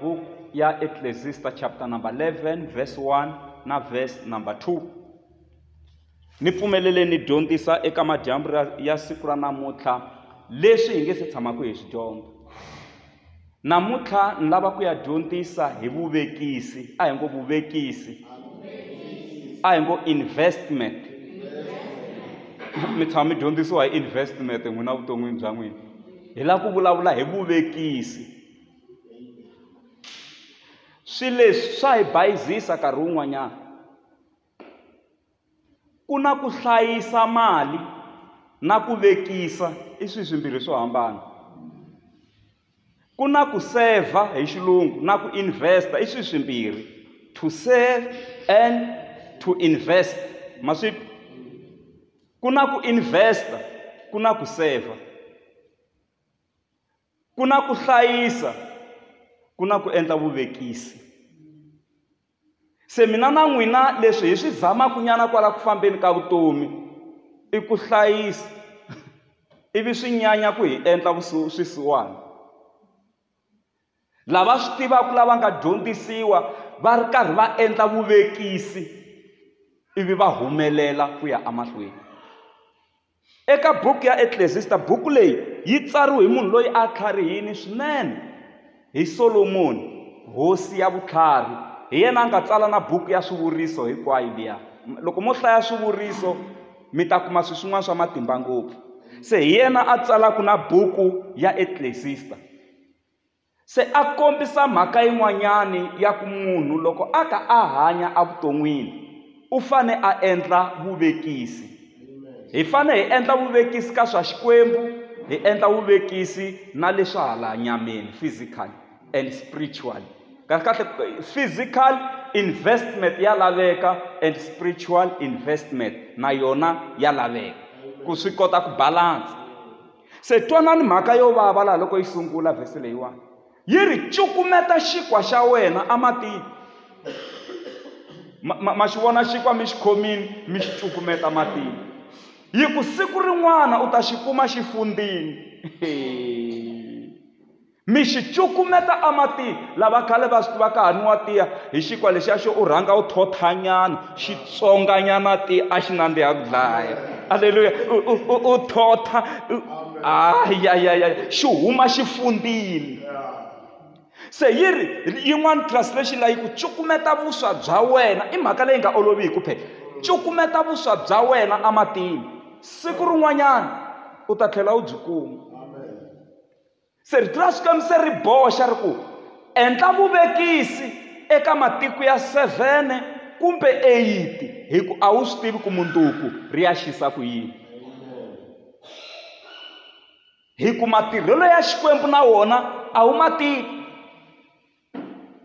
book ya Ecclesiastes chapter number 11 verse 1 na verse number 2 ni pfumelele ni dyondzisa eka madyambu ya siku ra namuntlha leswi hi nge se tshamaka hi swi dyondza namuntlha ni lava ku ya dyondzisa hi vuvekisi a hi ngo vuvekisi a hi ngo investment mi tshama mi dyondzisiwa hi investment n'wina vuton'wini bya n'wina hi lava ku vulavula hi vuvekisi Swilo leswi swa hi bayizisa nkarhi wun'wanyana ku na ku hlayisa mali na ku vekisa i swilo swimbirhi swo hambana ku na ku saver hi xilungu na ku invest i swilo swimbirhi to save and to invest ma swi twa ku na ku invest ku na ku saver. ku na ku hlayisa ku na ku endla vuvekisi se mina na n'wina leswi hi swi zamaka nyana kwala ku fambeni ka vutomi i ku hlayisa ivi swi nyanya ku hi endla swisiwana lava swi tivaka lava nga dyondzisiwa va ri karhi va endla vuvekisi ivi va humelela ku ya emahlweni. Eka buku ya Eklesista, buku leyi yi tsariwe hi munhu loyi a tlharihini swinene, hi Solomoni, hosi ya vutlhari. Hi yena a nga tsala na buku ya Swivuriso hinkwayo liya. Loko mo hlaya Swivuriso mi ta kuma swilo swin'wana swa matimba ngopfu. Se hi yena a tsalaka na buku ya Eklesista. Se a kombisa mhaka yin'wanyana ya ku munhu loko a ta a hanya evuton'wini u fane a endla vuvekisi hi fane hi endla vuvekisi ka swa Xikwembu hi endla vuvekisi na leswa hala nyameni physical and spiritual kahle kahle physical investment ya laveka and spiritual investment na yona ya laveka ku swi kota ku balance. Se twanani mhaka yo vava laha loko yi sungula vhesi leyiwani. Yi ri cukumeta xinkwa xa wena ematini. Ma, ma, ma xi vona xinkwa mi xi khomini mi xi cukumeta matini. Yi ku siku rin'wana u ta xi kuma xi fundzini. mi xi cukumeta ematini lava khale va swi tiva ka ha nwiwa tiya hi xinkwa lexiya xo u rhanga u thothanyana xi tsonganyana tiya a xi nandziha ku dlaya aleluya u thotha ayayaya xi huma xi fundile se yi ri yin'wana translation la yi ku cukumeta vuswa bya wena i mhaka leyi nga olovi hi ku phela cukumeta vuswa bya wena ematini siku rin'wanyana u ta tlhela u byi kuma Se rito ra Xikwembu se ri boxa ri ku endla vuvekisi eka matiko ya sevhene kumbe eyiti hi ku a wu swi tivi ku mundzuku ri ya xisa ku yini hi ku matirhelo ya xikwembu na wona a wu ma tivi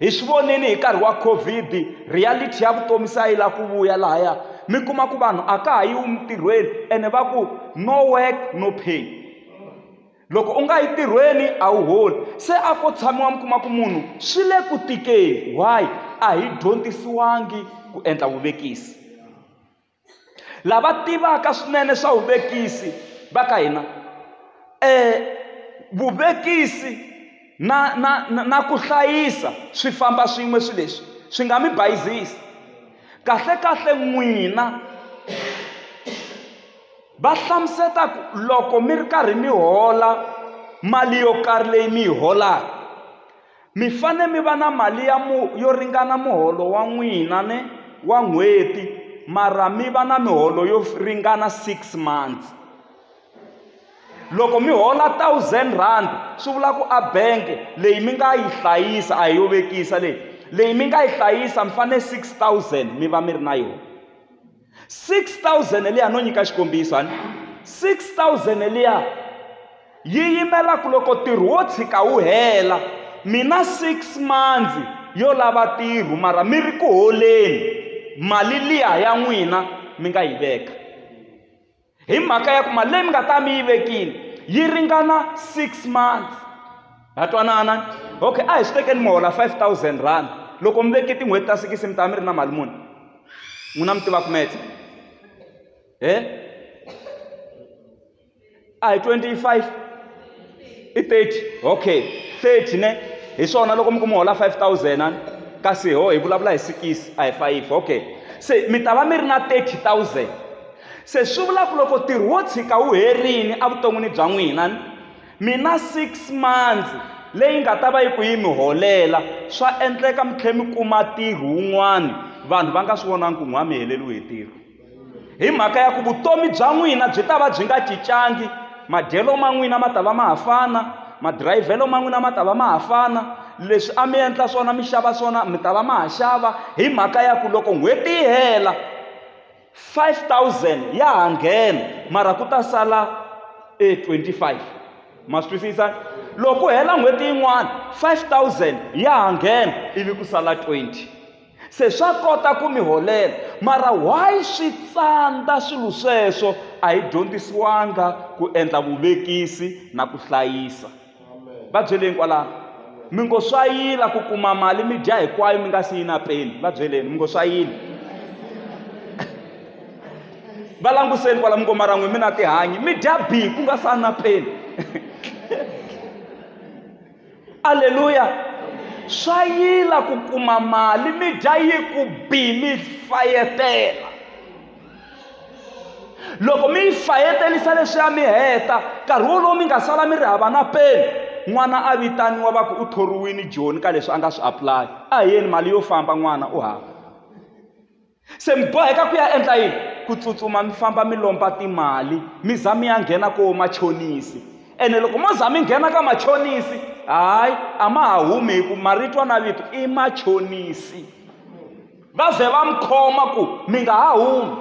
hi swi vonile hi nkarhi wa covid reality ya vutomi se a yi lava ku vuya lahaya mi kuma ku vanhu a ka ha yiwi mintirhweni ene va ku no work no pay loko u nga yi tirhweni a wu holi se a ko tshamiwa mi kuma ku munhu swi le ku tikeni why a hi dyondzisiwangi ku endla vuvekisi lava tivaka swinene swa vuvekisi va ka hina um vuvekisi na na na na ku hlayisa swi famba swin'we swilo leswi swi nga mi bayizisi kahlekahle n'wina va hlamuseta ku loko mi ri karhi mi hola mali yo karhi leyi mi yi holaka Mi fanele mi va na mali ya mu yo ringana muholo wa n'wina ne wa n'hweti mara mi va na miholo yo ringana six months loko mi hola thousand rand swi vula ku a bank leyi mi nga yi hlayisa a hi yo vekisa leyi leyi mi nga yi hlayisa mi fanele six thousand mi va mi ri na yona. 6000 liya no nyika xikombiso hani 6000 liya yi yimela ku loko ntirho wo tshika wu hela mina 6 mandzi yo lava ntirho mara mi ri ku holeni mali liya ya n'wina mi nga yi veka hi mhaka ya ku mali leyi mi nga ta mi yi vekile yi ringana six months ha twanana okay a hi swi tekeni mi hola five thousand rand loko mi veke tin'hweti ta sikisi mi ta mi ri na mali muni n'wina mi tiva kumetse e a hi twenty five i 30 okay 30 ne hi swona loko mi ku mi hola 5000 ani kasi ho hi vulavula hi sikisi a hi fayifi okay se mi ta va mi ri na 30000 se swi vula ku loko ntirho wo tshika wu herini evuton'wini bya n'wina ni mina six months leyi nga ta va yi ku yi mi holela swa endleka mi tlhela mi kuma ntirho wun'wana vanhu va nga swi vonangi ku n'wa mi heleriwe hi ntirho hi mhaka ya ku vutomi bya n'wina byi ta va byi nga cincangi madyelo ma n'wina ma ta va ma ha fana madirayivhelo ma n'wina ma ta va ma ha fana leswi a mi endla swona mi xava swona mi ta va ma ha xava hi mhaka ya ku loko n'hweti yi hela 5000 ya ha nghena mara ku ta sala e 25 ma swi twisisa loko ku hela n'hweti yin'wana 5000 ya ha nghena ivi ku sala 20 se swa kota ku mi holela mara why swi tsandza swilo sweswo a hi dyondzisiwanga ku endla vuvekisi na ku hlayisa va byeleni kwalano mi ngo swa yila ku kuma mali mi dya hinkwayo mi nga si yi na peni va byeleni mi ngo swa yila va languseni kwala mi ngo mara n'wi mi na tihanyi mi dya bi ku nga sa na peni aleluya swa yila ku kuma mali mi dya yi ku bi mi fayetela loko mi yi fayetelisa leswiya mi heta nkarhi wolowo mi nga sala mi ri hava na peni n'wana a vitaniwa va ku u thoriwini joni ka leswi a nga swi apulaya a hi yeni mali yo famba n'wana u hava se mi boheka ku ya endla yini ku tsutsuma mi famba mi lomba timali mi za mi ya nghena koho machonisi ene loko mo za mi nghena ka machonisi hayi a ma ha humi hi ku marito na vito i machonisi va ze va mi khoma ku mi nga ha humi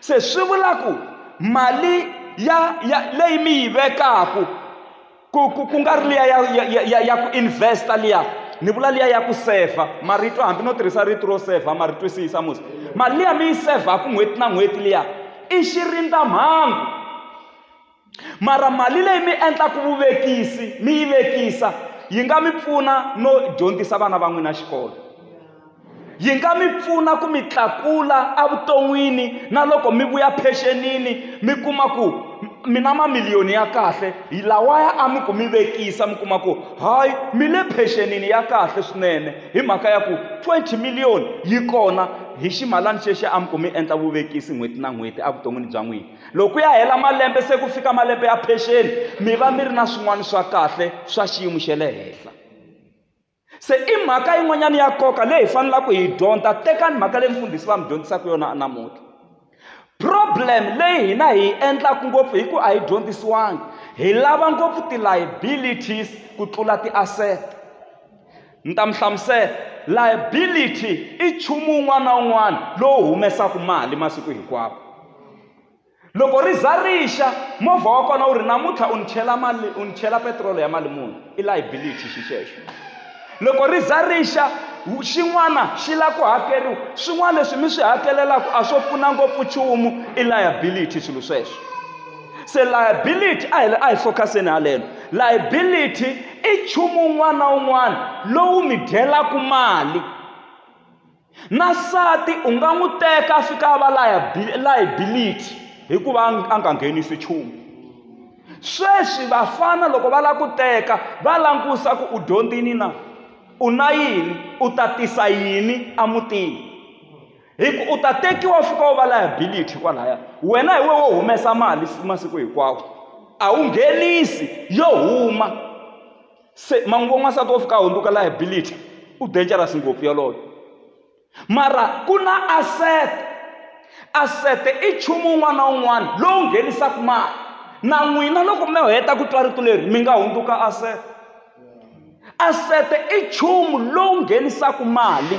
se swi vula ku mali ya ya leyi mi yi vekaku ku ku ku nga ri liya ya ya ya ya ya ku investa liya ni vula liya ya ku sefa marito hambi no tirhisa rito ro sefa ma ri twisisa musi mali liya mi yi sevhaku n'hweti na n'hweti liya i xirindamhangu mara mali leyi mi endlaka vuvekisi mi yi vekisa yi nga mi pfuna no dyondzisa vana va n'wina xikolo yi nga mi pfuna ku mi tlakula evuton'wini na loko mi vuya phenxenini mi kuma ku mi na mamiliyoni ya kahle hi lawaya a mi ku mi vekisa mi kuma ku hayi mi le phenxenini ya kahle swinene hi mhaka ya ku twenty million yi kona hi ximalana xexo a mi ku mi endla vuvekisi n'hweti na n'hweti evuton'wini bya n'wina loko ku ya hela malembe se ku fika malembe ya pension mi va mi ri na swin'wana swa kahle swa xiyimo xa le henhla se i mhaka yin'wanyana ya nkoka leyi hi fanelaka hi dyondza tekani mhaka leyi mfundhisi va mi dyondzisaka yona namuntlha problem leyi hina hi yi endlaka ngopfu hi ku a yi dyondzisiwangi hi lava ngopfu ti-liabilities ku tlula ti-asset Ni ta mi hlamusela. Liability i nchumu wun'wana na wun'wana lowu humesaka mali masiku hinkwawo. Loko ri za ri xa, movha wa kona wu ri namuntlha u ni chela mali u ni chela petirolo ya mali muni, i liability xi xexo. Loko ri za ri xa, xin'wana xi lava ku hakeriwa, swin'wana leswi mi swi hakelelaka a swo pfuna ngopfu nchumu, i liability swilo sweswo. se liability a hi a hi focuseni haleno liability i nchumu wun'wana na wun'wana lowu mi dyelaka mali na nsati u nga n'wi teka a fika a va liability hikuva a nga nghenisi nchumu sweswi vafana loko va lava ku teka va langusa ku u dyondzini na u na yini u ta tisa yini emutini hi ku u ta tekiwa fika u va liability kwalaya wena hi we wo humesa mali masiku hinkwawo a wu nghenisi yo huma se manguva n'wansati wo fika a hundzuka liability u dangerous ngopfu yoloyo mara ku na asset asset i nchumu un'wana na un'wana lowu nghenisaka mali na n'wina loko mi heta ku twa rito leri mi nga hundzuka asset asset i nchumu lowu nghenisaka mali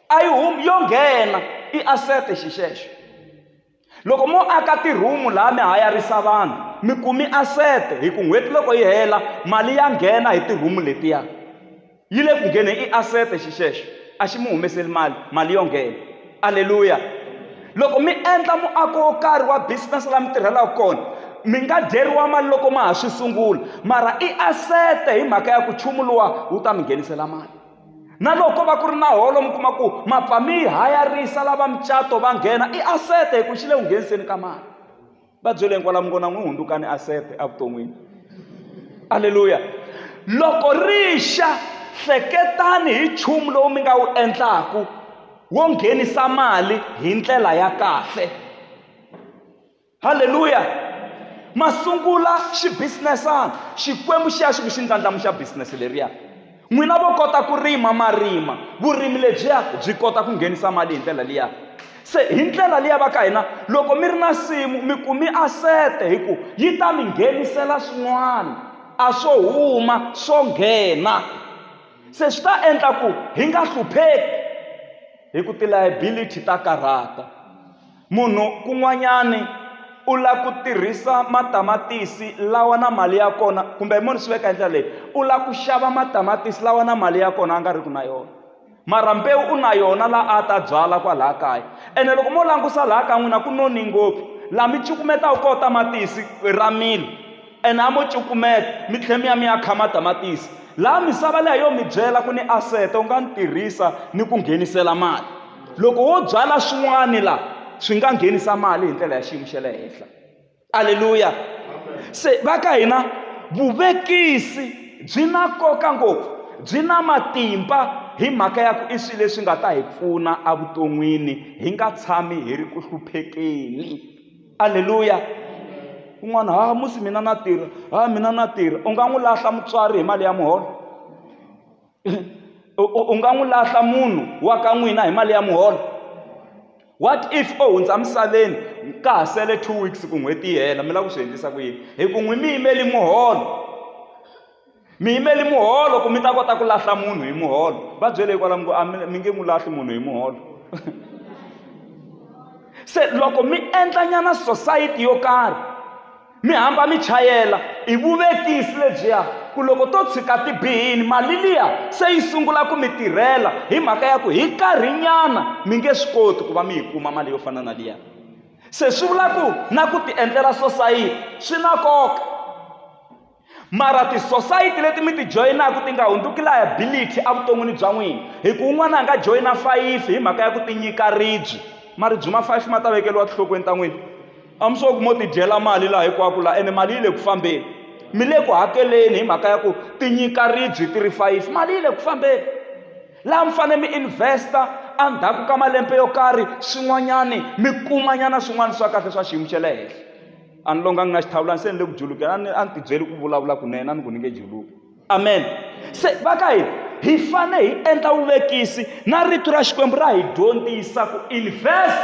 a yi humi yo nghena i asete xixexo loko mo aka tirhumu laha mi hayarisa vanhu mi kumi asete hi ku n'hweti loko yi hela mali ya nghena hi tirhumu letiya yi le ku ngheneni i asete xixexo a xi mi humeseli mali mali yo nghena aleluya loko mi endla muako wo karhi wa business laha mi tirhelaka kona mi nga dyeriwa mali loko ma ha swi sungula mara i asete hi mhaka ya ku nchumu luwa wu ta mi nghenisela mali na loko va ku ri na holo mi kuma ku mapfa mi hayarisa lava mucato va nghena i asete hi ku xi le ku ngheniseni ka mali va byele hinkwala mi vona n'wi hundzukani asete evuton'wini aleluya loko ri xa hleketani hi nchumu lowu mi nga wu endlaku wo nghenisa mali hi ndlela ya kahle halleluya ma sungula xibusinesana xikwembu xi ya xi ku xi ndlandlamuxa business leriya n'wina vo kota ku rima marima vurimi lebyiya byi kota ku nghenisa mali hi ndlela liya se hi ndlela liya va ka hina loko mi ri na nsimu mi kumi asete hi ku yi ta mi nghenisela swin'wana a swo huma swo nghena se swi ta endla ku hi nga hlupheki hi ku ti-liability ta karhata Munhu kun'wanyani u la ku tirhisa matamatisi lawa na mali ya kona kumbe hi moni swi veka hi ndlela leyi u la ku xava matamatisi lawa na mali ya kona a nga ri ku na yona mara mbewu u na yona la a ta byala kwalaha kaya ene loko mo langusa laha ka n'wina ku none ngopfu laha mi cukumetaka koho tamatisi ra mila. ene a mo cukumeta mi tlhela mi ya mi ya kha matamatisi laha misava leyi yo mi byela ku ni asete u nga ni tirhisa ni ku nghenisela mali loko wo byala swin'wani laha swi nga nghenisa mali hi ndlela ya xiyimo xa le henhla aleluya se va ka hina vuvekisi byi na nkoka ngopfu byi na matimba hi mhaka ya ku i swilo leswi nga ta hi pfuna evuton'wini hi nga tshami hi ri ku hluphekeni Aleluya. Un'wana, ha musi mina na tirha, ha mina na tirha. U nga n'wi lahla mutswari hi mali ya muholo? U nga n'wi lahla munhu wa ka n'wina hi mali ya muholo? What if o hundza misaveni ka ha sele two weeks ku n'hweti yi hela, mi lava ku swi endlisa ku yini? Hikuva n'wina mi yimele muholo. mi yimeli muholo ku mi ta kota ku lahla munhu hi muholo va byele hikwalaho ku a mi nge n'wi lahli munhu hi muholo se loko mi endlanyana society yo karhi mi hamba mi chayela hi vuvekisi lebyiya ku loko to tshika ti bihini mali liya se yi sungula ku mi tirhela hi mhaka ya ku hi karhinyana mi nge swi koti ku va mi yi kuma mali yo fana na liya se swi vula ku na ku ti endlela sosayiti swi na nkoka mara tisosayiti leti mi ti joyinaka ti nga hundzuki liability evuton'wini bya n'wina hi ku un'wana a nga joyina fayifi hi mhaka ya ku ti nyika ribyi maribyi ma fayifi ma ta vekeriwa tinhlokweni ta n'wina a mi swo ku mo tidyela mali laha hinkwako laha ene mali yi le ku fambeni mi le ku hakeleni hi mhaka ya ku ti nyika ribyi ti ri fayifi mali yi le ku fambeni laha mi fanele mi investa endzhaku ka malembe yo karhi swin'wanyani mi kumanyana swin'wana swa kahle swa xiyimo xa le henhla a ni longanga na xihlawula ni se ni le ku julukela a ni a ni tibyeli ku vulavula kunene a ni ku ni nge juluki amen se va ka hina hi fane hi endla vuvekisi na rito ra xikwembu ra hi dyondzisa ku invest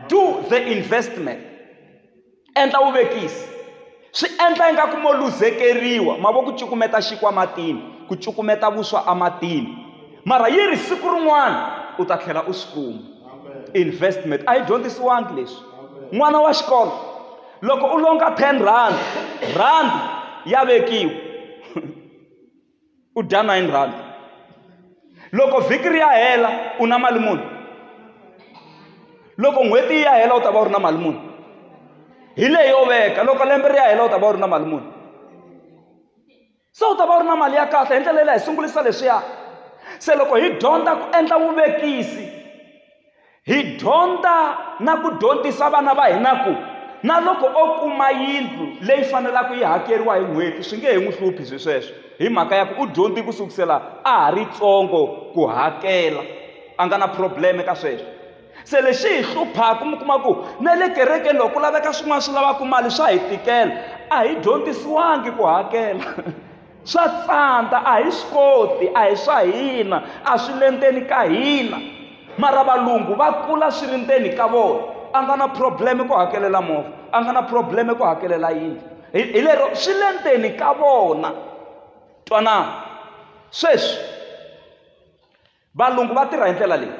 do the investment endla vuvekisi swi endla ingaku mo luzekeriwa mavoko cukumeta xinkwa matini ku cukumeta vuswa ematini mara yi ri siku rin'wana u ta tlhela u swi kuma investment a yi dyondzisiwangi leswi n'wana wa xikolo loko u longa ten rand rand ya vekiwa u dya nine rand loko vhiki ri ya hela u na mali muni loko n'hweti yi ya hela u ta va u ri na mali muni hi leyo veka loko lembe ri ya hela u ta va u ri na mali muni se u ta va u ri na mali ya kahle hi ndlela yeleyo hi sungulisa leswiya se loko hi dyondza ku endla vuvekisi hi dyondza na ku dyondzisa vana va hina ku na loko o kuma yindlu leyi fanelaka yi hakeriwa hi n'hweti swi nge he n'wi hluphi swi sweswo hi mhaka ya ku u dyondzi ku sukusela a ha ri tsongo ku hakela a nga na problem ka sweswo se lexi hi hluphaka mi kuma ku na le kerekeni loko ku laveka swin'wana swi lavaka mali swa hi tikela a hi dyondzisiwangi ku hakela swa tsandza a hi swi koti a hi swa hina a swi le ndzeni ka hina mara valungu va kula swi ri ndzeni ka vona a nga na probleme ku hakelela movha a nga na probleme ku hakelela yindlu hi lero swi le ndzeni ka vona twanana sweswi valungu va tirha hi ndlela leyi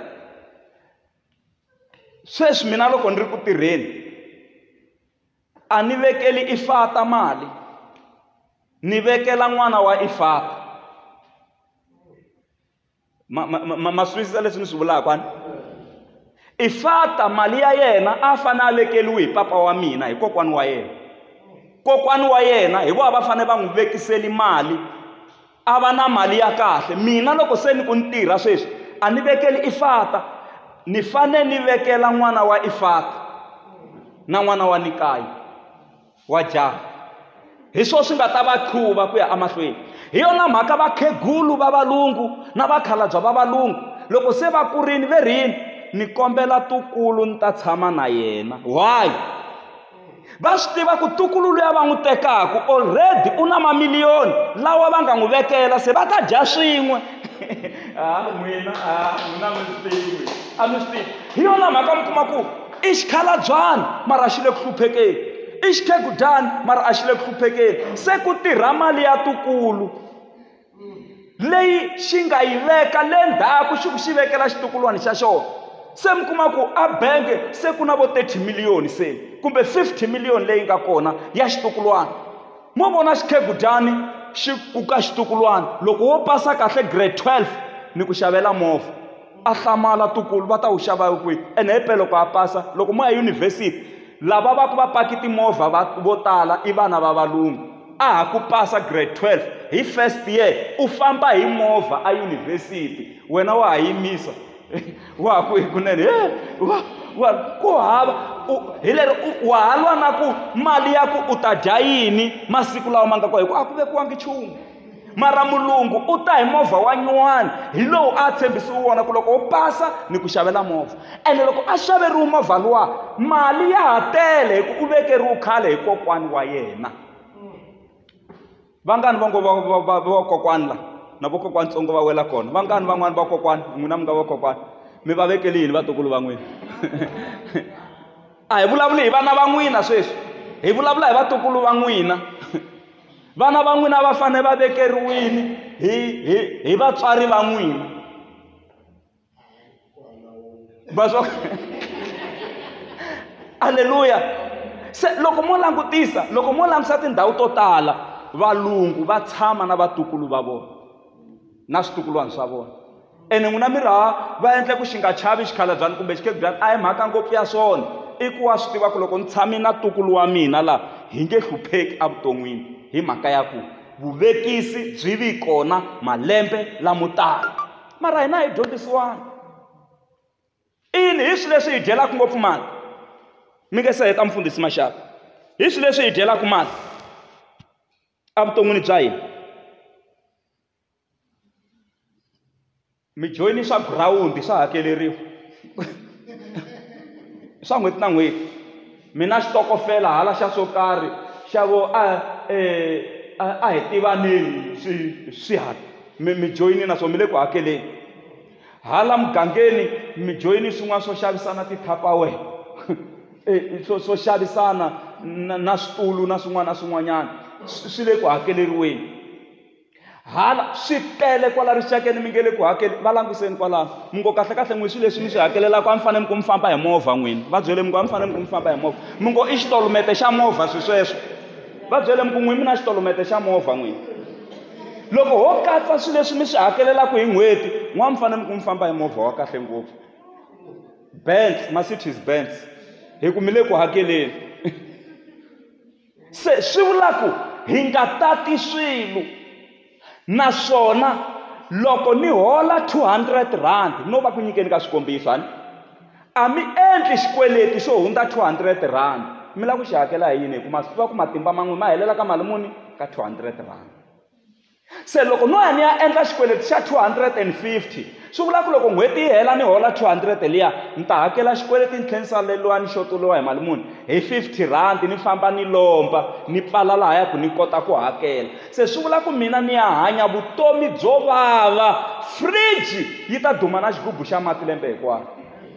sweswi mina loko ni ri ku tirheni a ni vekeli ifata mali ni vekela n'wana wa ifata ma ma ma ma swi twisisa leswi ni swi vulaka ani ifata mali ya yena a fanele a vekeliwi hi papa wa mina hi kokwana wa yena kokwana wa yena hi vona va fanele va n'wi vekiseli mali a va na mali ya kahle mina loko se ni ku ni tirha sweswi a ni vekeli ifata ni fane ni vekela n'wana wa ifata na n'wana wa nikayi wa jaha hi swona swi nga ta va qhuva ku ya emahlweni hi yona mhaka vakhegulu va valungu na vakhalabya va valungu loko se va kurini ve rini ni kombela tukulu ni ta tshama na yena why va swi tiva ku tukulu luya va n'wi tekaka already u na mamiliyoni lawa va nga n'wi vekela se va ta dya swin'we ha ah, n'wina ha ah, n'wina mi swi tivi a mi swi tivi hi yona mhaka mi kuma ku i xikhalabyana mara xi le ku hluphekeni i xikhegudyana mara a xi le ku hluphekeni se ku tirha mali ya tukulu leyi xi nga yi veka le ndzhaku xi ku xi vekela xitukulwana xa xona se mi kuma ku a bangi se ku na vo thirty million se kumbe fifty million leyi nga kona ya xitukulwana mo vona xikhegudyani xi ku ka xitukulwana loko wo pasa kahle grade twelve ni ku xavela movha. a hlamala tukulu va ta wu xava kwihi ene hi pele loko a pasa loko mo ya yunivhesiti lava va ku va paki timovha va vo tala i vana va valungu a ha ku pasa grade 12 hi first year u famba hi movha eyunivhesiti wena wa ha yimisa wa ha ku hikunene he wa wa ku hava hi lero wa ha lwa na ku mali ya ku u ta dya yini masiku lawa ma nga kona hikuva a ku vekiwangi nchumu mara mulungu u ta hi movha wa nyuwani hi lowu a tshembisiwe wona ku loko u pasa ni ku xavela movha ene loko a xaveriwe movha luwa mali ya ha tele hi ku u vekeriwe khale hi kokwani wa yena vangani va ngo vakokwani la na vokokwani tsongo va wela kona vangani van'wani vakokwani n'wina mi nga vakokwani mi va vekeli yini vatukulu va n'wina a hi vulavuli hi vana va n'wina sweswi hi vulavula hi vatukulu va n'wina vana va n'wina va fanele va vekeriwile hi hi hi vatswari va n'wina vaswa aleluya se loko mo langutisa loko mo langutisa tindhawu to tala valungu va tshama na vatukulu va vona na switukulwana swa vona ene n'wina mi raha va endle ku xi nga chavi xikhalabyana kumbe xikhebyana a hi mhaka ngopfu ya swona i ku wa swi tiva ku loko ni tshame na tukulu wa mina laha hi nge hlupheki evuton'wini hi mhaka ya ku vuvekisi byi vi kona malembe lamo tala mara hina hi dyondzisiwana ini hi swilo leswi hi dyelaka ngopfu mali mi nge se heta mfundhisi maxaka hi swilo leswi hi dyelaka mali evuton'wini bya hina mi joyini swa girawundi swa hakeleriwa swa n'hweti na n'hweti mi na xitokofela hala xa swo karhi xa vo a eh, a a hi tivaneni swi swi hala mi mi joyini na swo mi le ku hakeleni hala mugangeni mi joyini swin'wana swo xavisana ti-tapawer eh, swo swo xavisana na na switulu na swin'wana na swin'wanyana swi swi le ku hakeleriweni hala swi tele kwala rixakeni mi nge le ku hakeli va languseni kwalano mi ngo kahlekahle n'wi swilo leswi mi swi hakelelaka a mi fanele mi ku mi famba hi movha n'wini va byele mi ku a mi fanele mi ku mi famba hi movha mi ngo i xitolomete xa movha swi sweswo va byele mi ku n'wi mi na xitolomete xa movha n'wini loko ho katsa swilo leswi mi swi hakelelaka hi n'hweti n'wana mi fanele mi ku mi famba hi movha wa kahle ngopfu bands ma-cities bands hi ku mi le ku hakeleni se swi vula ku hi nga tati swilo naswona loko ni hola 200 rand no va ku nyikeni ka xikombiso hani a mi endli xikweleti xo hundza 200 rand mi lava ku xi hakela hi yini hikuva swi tiva ku matimba man'we ma helela ka mali muni ka 200 rand se loko no ya ni ya endla xikweleti xa 250 swi vula ku loko n'hweti yi hela ni hola 200 liya ni ta hakela xikweleti ni tlhela ni saleriwa ni xoteriwa hi mali muni hi 50 rhandi ni famba ni lomba ni pfala laha ya ku ni kota ku hakela se swi vula ku mina ni ya hanya vutomi byo vava fridge yi ta duma na xigubu xa mati lembe hinkwaro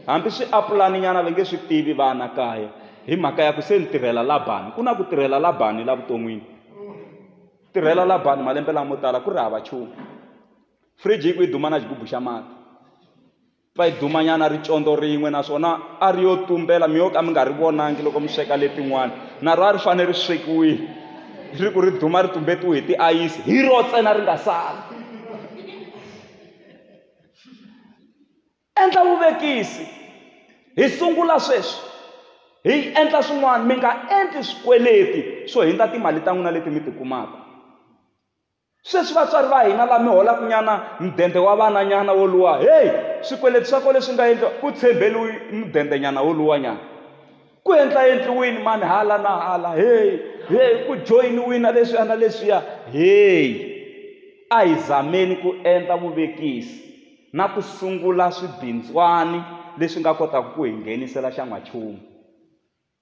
hambi swi apulani nyana va nge swi tivi vana kaya hi mhaka ya ku se ni tirhela labani ku na ku tirhela labani la vuton'wini tirhela labani malembe lamo tala ku ri hava nchumu fridge yi ku yi duma na xigubu xa mati pfa yi dumanyana ri condo rin'we naswona a ri yo tumbela mi yo ka mi nga ri vonangi loko mi sweka letin'wana na ro a ri fanele ri swekiwile ri ku ri duma ri tumbetiwe hi tiayisi hi ro tsena ri nga sali Endla vuvekisi. Hi sungula sweswi. Hi endla swin'wana. Mi nga endli swikweleti swo hindza timali ta n'wina leti mi ti kumaka. Sweswi vatswari va hina la mi holaka nyana mudende wa vananyana wo luwa, heyi, swikweleti swa ko leswi nga endliwa, ku tshembeliwi mudende nyana wo luwa nyana. ku endla endliwini mani hala na hala heyi heyi ku joyiniwina leswiya na leswiya heyi a hi zameni ku endla vuvekisi na ku sungula swibindzwani leswi nga kotaka ku hi nghenisela xa n'wachumu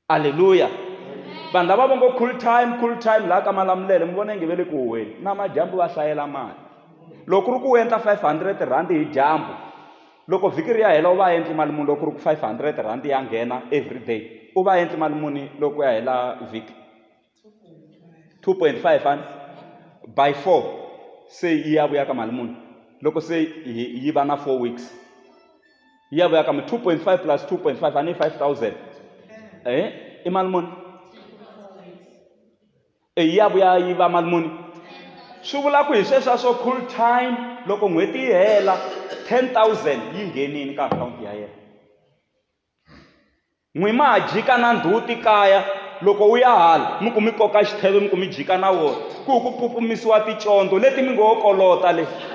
aleluya vanhu lava va ngo cool time cool time laha ka malamulele mi vona inge ve le ku huweni na madyambu va hlayela mali loko ku ri ku u endla 500 rhandi hi dyambu Loko vhiki ri ya hela u va a endli mali muni loko ku ri ku five hundred rand ya nghena every day u va a endli mali muni loko ku ya hela vhiki two point five and by four se yi ya vuya ka mali muni loko se yi va na four weeks yi ya vuya ka mi two point five plus two point five a ni five thousand e i mali muni eyi ya vuya yi va mali muni swi vula ku hi sweswiya swo cool time loko n'hweti yi hela 10000 yi nghenini ka akhawunti ya yena n'wi ma ha jika na ndhuti kaya loko wu ya hala mi ku mi koka xitheve mi ku mi jika na wona ku ku pupumisiwa ticondzo leti mi ngo ho kolota leti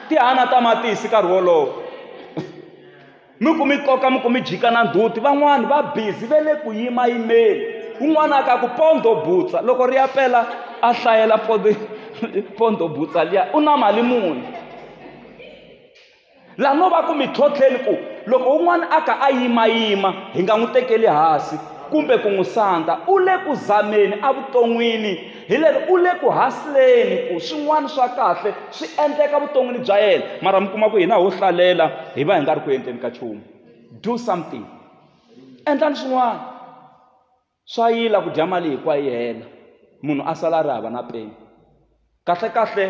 ti hana tamatisi nkarhi wolowo mi ku mi koka mi ku mi jika na nduti van'wani va bizi ve le ku yimayimeni un'wana a ka ku pondo butsa loko ri ya pela a hlayela pondo pondo butsa liya u na mali muni laha no va ku mi tlhotlheni ku loko un'wana a ka a yimayima hi nga n'wi tekeli hansi kumbe ku n'wi sandza u le ku zameni evuton'wini Hillary u le ku hasleni ku swin'wana swa kahle swi endleka vuton'wini bya yena mara mi kuma ku hina ho hlalela hi va hi nga ri ku endleni ka nchumu do something endlani swin'wana swa yila ku dya mali hinkwayo yi hela munhu a sala a ri hava na peni kahlekahle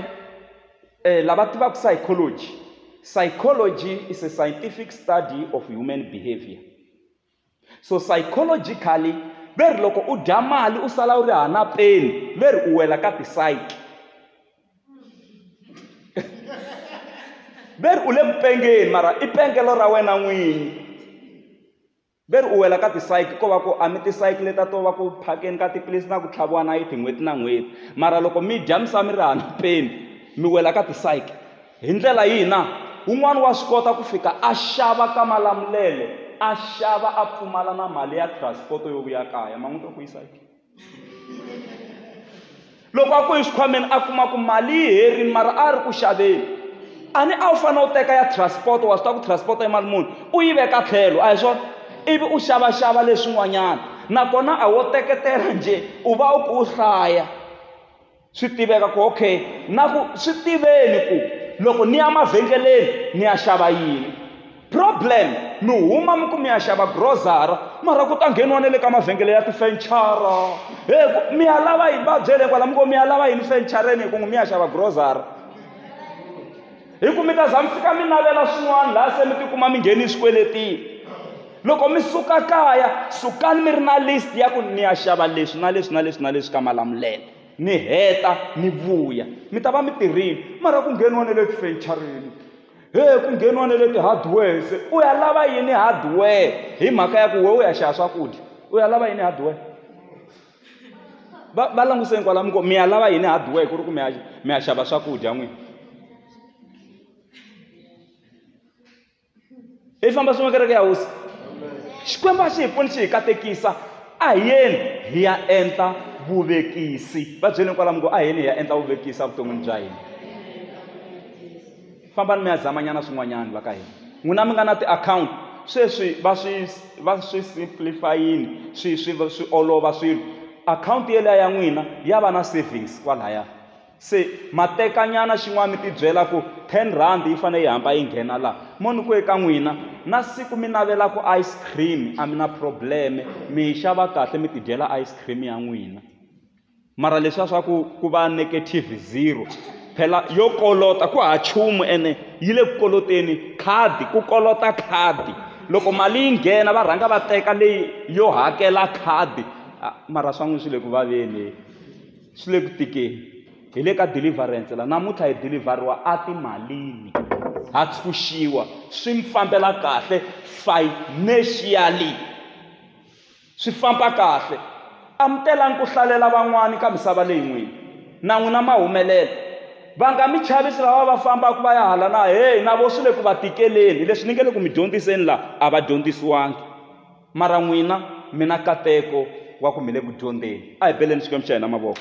um lava tivaka psychology psychology is a scientific study of human behavior So psychologically ve ri loko u dya mali u sala u ri hana peni ve ri u wela ka ti-psyche ve ri u le ku pengeni mara i pengelo ra wena n'winyi ve ri u wela ka ti-psyche ko va ku a mi ti-psyche leta to va ku phakeni ka tiphilisi na ku tlhaviwa nayiti n'hweti na n'hweti mara loko mi dya mi sa mi ri hana peni mi wela ka ti-psyche. Hi ndlela yihi na? Un'wana wa swi kota ku fika a xava ka Malamulele, a xava a pfumala na mali ya transport yo vuya kaya. Ma n'wi twa ku yisa ke? Loko a ku hi xikhwameni a kuma ku mali yi herini mara a ri ku xaveni. A ni a wu fanele u teka ya transport wa swi tiva ku transport i mali muni, u yi veka tlhelo a hi swona? Ivi u xavaxava leswin'wanyana. Nakona a wo teketela njhe, u va u kha u hlaya. swi tiveka ku okay na ku swi tiveni ku loko ni ya mavhengeleni ni ya xava yini problem mi huma mi ku mi ya xava grosara mara ku ta ngheniwa na le ka mavhengele ya tifenchara he mi ya lava yini va byele kwala mi ku mi ya lava yini fenchareni hi ku n'wi mi ya xava grosara hi ku mi ta za mi fika mi navela swin'wana laha se mi tikuma mi ngheni swikweletini loko mi suka kaya sukani mi ri na list ya ku ni ya xava leswi na leswi na leswi na leswi ka malamulelo mi heta mi vuya mi ta va mi tirhile mara ku ngheniwa ne le tifenchareni he ku ngheniwa ne le ti-hardwares u ya lava yini hardware hi mhaka ya ku we u ya xava swakudya u ya lava yini hardware va va languseni kwalamu ko mi ya lava yini hardware ku ri ku mi ya mi ya xava swakudya n'wini hi famba swin'we kereke ya hosi xikwembu a xi hi pfuni xi hi katekisa a hi yeni hi ya endla vuvekisi va byeleni kwalamu ku a hi yeni hi ya endla vuvekisi evuton'wini bya hina fambani mi ya zamanyana swin'wanyana va ka hina n'wina mi nga na tiakhawunti sweswi va swi va swi simplifyini swi swi swi olova swilo akhawunti yeliya ya n'wina ya va na savings kwalaya se matekanyana xin'wana mi tibyela ku ten rand yi fanele yi hamba yi nghena laha mo ni ku eka n'wina na siku mi navela ku ice cream a mi na probleme mi yi xava kahle mi tidyela ice cream ya n'wina mara leswiya swa ku ku va negative zero phela yo kolota ku ha chumu ene yi le ku koloteni khadi ku kolota khadi loko mali yi nghena va rhanga va teka leyi yo hakela khadi ah, mara swa n'wi swi le ku vaveni swi le ku tikeni hi le ka deliverance la namuntlha hi delivheriwa atimalini ha tshunxiwa swi mi fambela kahle financially Swi famba kahle. Amukelani ku hlalela van'wana ka misava leyi n'wini. Na n'wina ma humelela. Va nga mi chavisi lava va fambaka va ya hala na heyi na vona swi le ku va tikeleni. Leswi ni nge le ku mi dyondziseni laha a va dyondzisiwangi. Mara n'wina mi na nkateko wa ku mi le ku dyondzeni. A hi beleni Xikwembu xa hina mavoko.